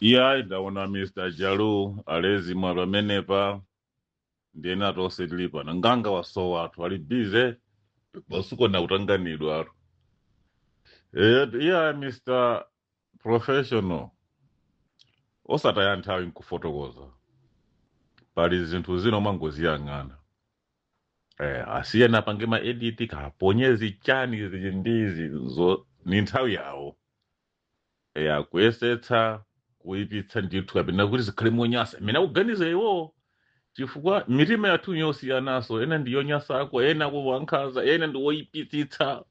iyayi ndaona mr jalu ali mmwamo amenepa ndiye nafe tonse tili pano nganga wasowa athu ali busy basitu nakutanganidwatu Eh, iyayi mr professional osataya nthawi nkufotokoza pali zinthu zina umangoziyang'ana eh, asiyeni apange ma edit kaponyezi chani izi ndi izi zo ni nthawi yawo e, akuyesetsa kuipitsa ndithu kapena kuti zikhale monyasa mmene akuganiza iwowo chifukwa mitima yathu yosiyanaso ena ndi yonyasako ena ngwankhaza ena ndi woipitsitsa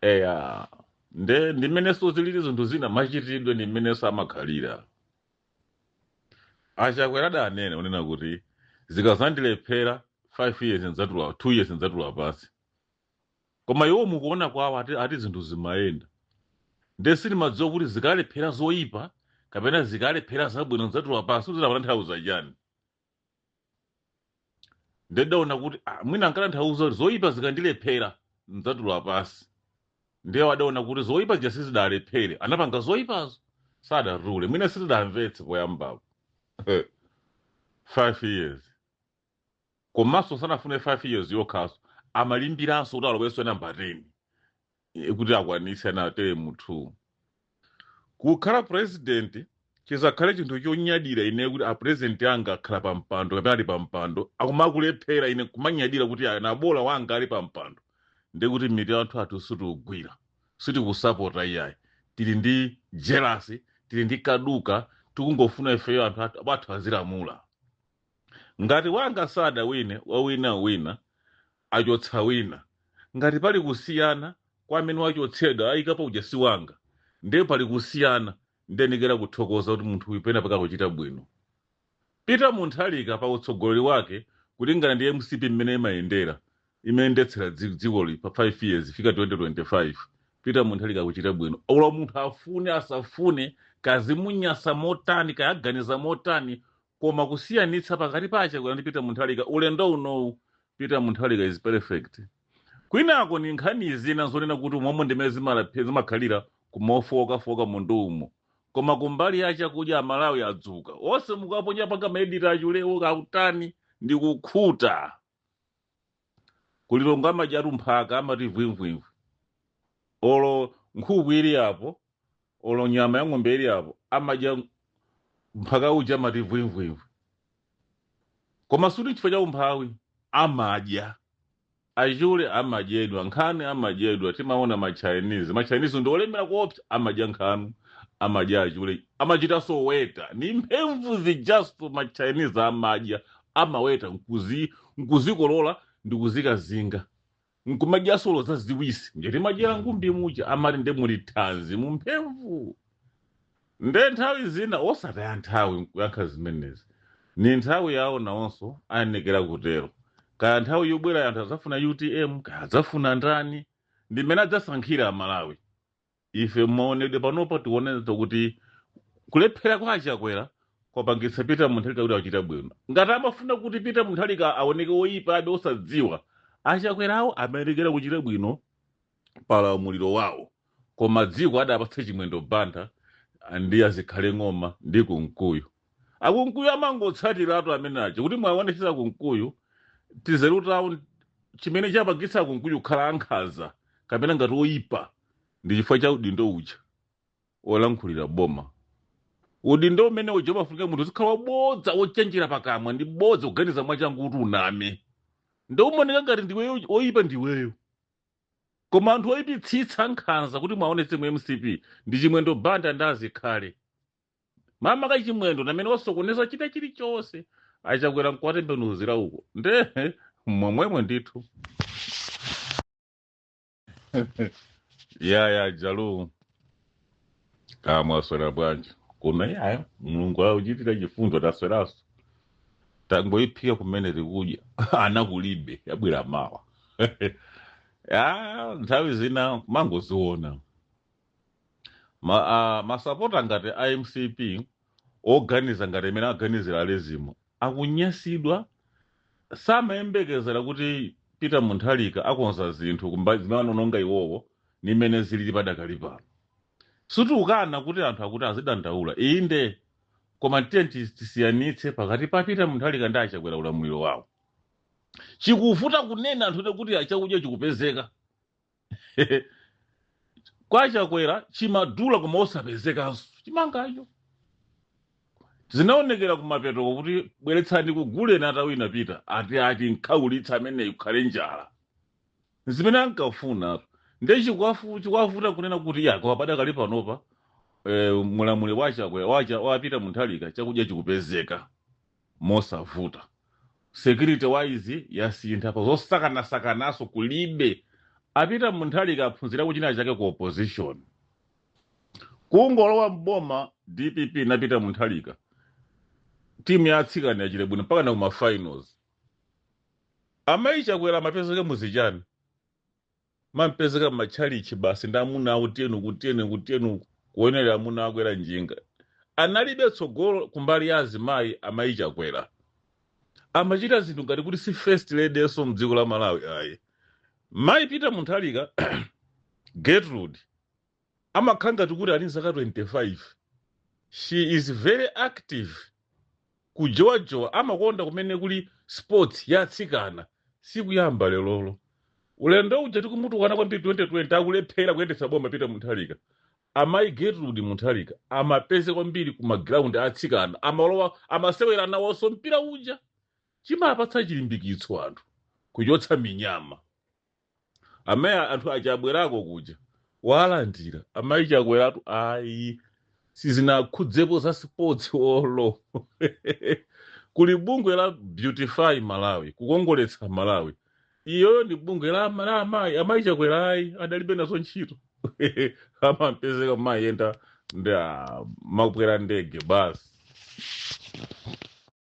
eya nde ndi mmenenso zilili zinthu zina machitidwe ndi mmenenso amakhalira achakwera adanena kunena kuti zikazandilephera 5 years ndzatula 2 years ndzatula pansi koma iwo mukuona kwawo ati, ati zinthu zimayenda nde sindimadziwa kuti zikalephera zoyipa kapena zikalephera zabwino nzatula pansi kuti amatanthauza chani nde ndaona kuti ah, mwina ankatanthauza kuti zoyipa zikandilephera nzatula pansi ndiye adaona kuti zoyipa zija sizidalephere anapanga zoyipazo sadatule mwina sitidamvetse poyambapo five years komanso sanafunenso 5 years yokhaso amalimbiranso kuti alowenso number 10 eh, kuti akwanitse na teremu 2 kukhala president chizakhale chinthu chonyadira ine kuti apresidenti anga akhala pa mpando kapena ali pa mpando akumakulephera ine kumanyadira kuti "Ah, ah bola wanga ali pa mpando ndi kuti mtima wathuwo sitiugwira sitikusapota iyayi tili ndi jelasi tili ndi kaduka tikungofuna ifeyo athu athu azilamula ngati wanga sadawine wawina wina achotsa wina ngati pali kusiyana kwa amene wachotsedwa ayikapo uja si wanga ndiye pali kusiyana ndiyenekera kuthokoza kuti munthu uyu pena pake akuchita bwino peter mutharika pa utsogoleri wake kulingana ndi mcp mmene imayendera imayendetsera dzi- dzikoli pa 5 years kufika 2025 peter mutharika akuchita bwino olo munthu afune asafune kaya zimunyasa motani kaya aganiza motani koma kusiyanitsa pakati pa achakwera ndi peter mutharika ulendo unowu peter mutharika is perfect kwinako ni nkhani zina zonena kuti umomo ndi mmene zimalaphe- zimakhalira kumaofowokafowoka munthu umo koma kumbali ya chakudya amalawi adzuka onse mukaponya pangani maedita achulewo kaya atani ndi kukhuta ku Lilongwe amadyatu mphaka amati vwimvwimvwi olo nkhuku ili apo olo nyama ya ng'ombe ili apo amadya mphaka uja amati vwimvwimvwi koma suti chifukwa cha umphawi amadya achule amadyedwa nkhanu amadyedwa timaona machinese machinese ndi olemera kuopsa amadya nkhanu amadya achule amachitanso oweta ndi mphemvu zijanso machinese amadya amaweta nkuzi nkuzikolola ndikuzikazinga nkumadyanso olo zaziwisi nje timadyera ngumbi muja amati nde muli thanzi mumphemvu nde nthawi zina osataya nthawi kuyankha zimenezi ni nthawi yawo nawonso ayenekera kutero kaya nthawi yobwera anthu adzafuna utm kaya adzafuna ndani ndi mmene adzasankhire amalawi ife mmaonedwe panopa tikuonetsa kuti kulephera kwa achakwera kwapangitsa peter mutharika kuti achita bwino ngati amafuna kuti peter mutharika aoneke woyipa abe osadziwa achakwerawo amayenekera kuchita bwino pa ulamuliro wawo koma dziko adapatsa chimwendo banda ndi a zikhale ng'oma ndi kumkuyu Akunkuyu amangotsatiratu amene aja kuti mwaonetsetsa akunkuyu tizeru tawo chimene chapangitsa akunkuyu kukhala ankhanza kapena ngati oyipa ndi chifukwa cha udindo uja olankhulira boma udindo umene uja umafunika munthu uzikhala wabodza wochenjera pakamwa ndi bodza kuganiza mwachangu kuti uname nde umaoneka ngati ndiweyo oyipa ndiweyo koma anthu oyipitsitsa nkhanza kuti mwaonetsetsa mu mcp ndi chimwendo banda ndi a zikhale mama kachimwendo ndi amene wasokoneza chita chilichonse achakwera nkuwatembenuzira uko nde momwemo ndithu yaya jalu kaya mwaswera bwanji kuno yaya mulungu akuchitira chifundo tasweranso tangoiphika kumene tikudya ana kulibe abwera mawa ya nthawi zina kumangoziona ma, a, masapota ngati a mcp oganiza ngati amene aganizira alezimu akunyasidwa samayembekezera kuti peter mutharika akonza zinthu kumba- zimene anononga iwowo ni mmene zilili padakali pano sitikukana kuti anthu akuti azidandaula inde koma tiye tis- tisiyanitse pakati pa peter mutharika ndi achakwera ulamuliro wawo chikuvuta kunena anthu kuti chakudya chikupezeka kwa chakwera chimadula koma osapezekanso chimangacho zinaonekera kumapetoko kuti bweretsani ndikuguleni atawina peter ati ati nkhaulitsa ameneyo kukhale njala zimene ankafuna nde chikuwavu- chikuwavuta kunena kuti yako padakali panopa eh, mu ulamuliro wa chakwera wa cha wa peter mutharika chakudya chikupezeka mosavuta. Security wise yasintha pa zosakanasakanaso kulibe. A Peter Mutharika aphunzirako china chake ku opposition. Kungolowa m'boma dpp na Peter Mutharika timu ya atsikana yachita bwino mpaka na kuma finals. Amayi Chakwera amapezeke muzichani. mampezeka m'matchalichi basi ndi amuna awo tiyeni uku tiyeni uku tiyeni uku kuonerera amuna akwera njinga analibe tsogolo kumbali ya azimayi amayi chakwera amachita zinthu ngati kuti si first ladyso mdziko la malawi ayi mayi peter mutharika gertrude amakhala ngati kuti ali nzaka 25 she is very active kujowajowa amakonda kumene kuli sports ya atsikana sikuyamba lelolo ulendo uja tikumutukwana kwambiri 2020 akulephera kuyendetsa boma peter mutharika amayi gertrude mutharika amapezeka kwambiri ku ma ground a atsikana amalowa amasewera nawonso mpira uja chimapatsa chilimbikitso anthu kuchotsa minyama amaye anthu aja abwerako kuja walandira amayi chakweratu ayi sizinakhudzepo za sports olo kuli bungwe la beautify malawi kukongoletsa malawi iyoyo ndi bungwe la ama- la amayi amayi chakwera ayi adalibe nazo ntchito amampezeka kumayenda ndi a- amakwera ndege basi